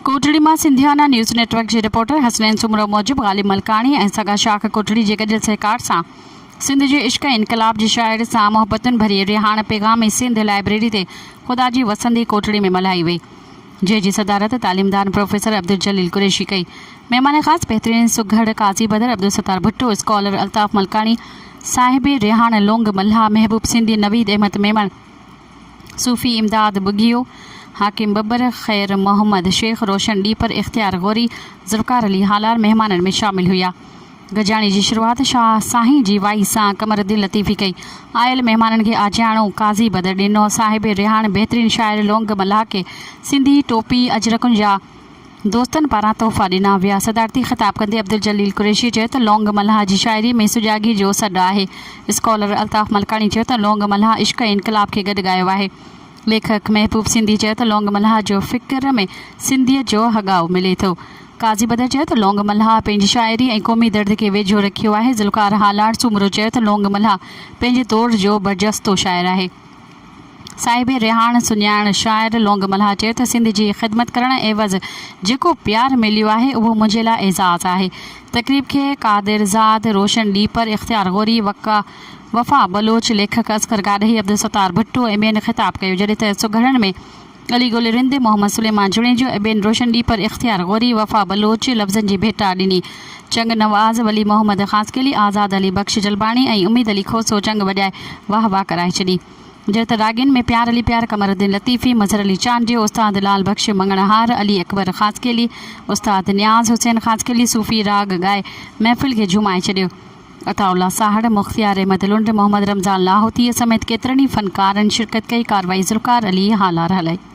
ڪوٽڙي مان Sindhiana news network جي reporter Hasnain Soomro موجب غالب ملڪاڻي ۽ سگا شاخ ڪوٽڙي جي گڏيل سهڪار سان سنڌ جي عشق ۽ انقلاب جي شاعر سان محبتن ڀرئي رهاڻ پيغام سنڌ لائبريري تي خدا جي وسندي ڪوٽڙي ۾ ملهائي وئي جنهن جي صدارت تعليمدان پروفيسر عبدالجليل قريشي ڪئي مهمان خاص بهترين سگهڙ قاضي بدر عبدالستار ڀٽو اسڪالر الطاف ملڪاڻي صاحبي رهاڻ لونگ ملاح محبوب سنڌي نويد احمد ميمڻ صوفي امداد ٻگهيو، حاڪم ٻٻر، خير محمد، شيخ روشن ڏيپر، اختيار غوري، ذوالفقار علي هالار مهمانن ۾ شامل هيا. گڏجاڻي جي شروعات شاهه سائين جي وائي سان قمر الدين لطيفي ڪئي. آيل مهمانن کي آجياڻو، قاضي بدر ڏنو. صاحب رهاڻ بهترين شاعر لونگ ملاح کي سنڌي ٽوپي، اجرڪن جا. دوستن پاران تحفا ڏنا ويا. صدارتي خطاب ڪندي عبدالجليل قريشي چيو ته لونگ ملهاء جي شاعري ۾ سجاڳي جو سڏ آهي. اسڪالر الطاف ملڪاڻي چيو ته لونگ ملهاء عشق ۽ انقلاب کي گڏ ڳايو آهي. ليکڪ محبوب سنڌي چيو ته لونگ ملهاء جو فڪر ۾ سنڌيت جو هڳاء ملي ٿو. قاضي بدر چيو ته لونگ ملهاء پنهنجي شاعري ۽ قومي درد کي ويجهو رکيو آهي. ذوالفقار هالاڻ سومرو چيو ته لونگ ملهاء پنهنجي دور جو برجستو شاعر آهي. صاحب رهاڻ سڃاڻ شاعر لونگ ملاح چيو ته سنڌ جي خدمت ڪرڻ عيوض جيڪو پيار مليو آهي اهو منهنجي لاء اعزاز آهي. تقريب کي قادر زاد، روشن ڏيپر، اختيار غوري، وفا بلوچ، ليکڪ اصغر گاڏهي، عبدالستار ڀٽو ۽ ٻين خطاب ڪيو جڏهن ته سگهڙن ۾ ڳلي ڳولي رند محمد سليمان جوڻيجو ۽ ٻين روشن ڏي پر اختيار غوري، وفا بلوچ لفظن جي ڀيٽا ڏني. چنگ نواز، ولي محمد خاصخيلي، آزاد علي بخش جلباڻي ۽ اميد علي کوسو چنگ وڄائي واهه واهه ڪرائي ڇڏي. جڏهن ته راڳين ۾ پيار علي پيار، قمر الدين لطيفي، مظهر علي چانڊيو، استاد لعل بخش مڱڻهار، علي اڪبر خاصخيلي، استاد نياز حسين خاصخيلي صوفي راڳ ڳائي محفل کي جهومائي ڇڏيو. عطاء الله ساهڙ، مختيار احمد لنڊ، محمد رمضان لاهوتيء سميت ڪيترن ئي فنڪارن شرڪت ڪئي، ڪارروائي ذوالفقار علي هالار هلائي.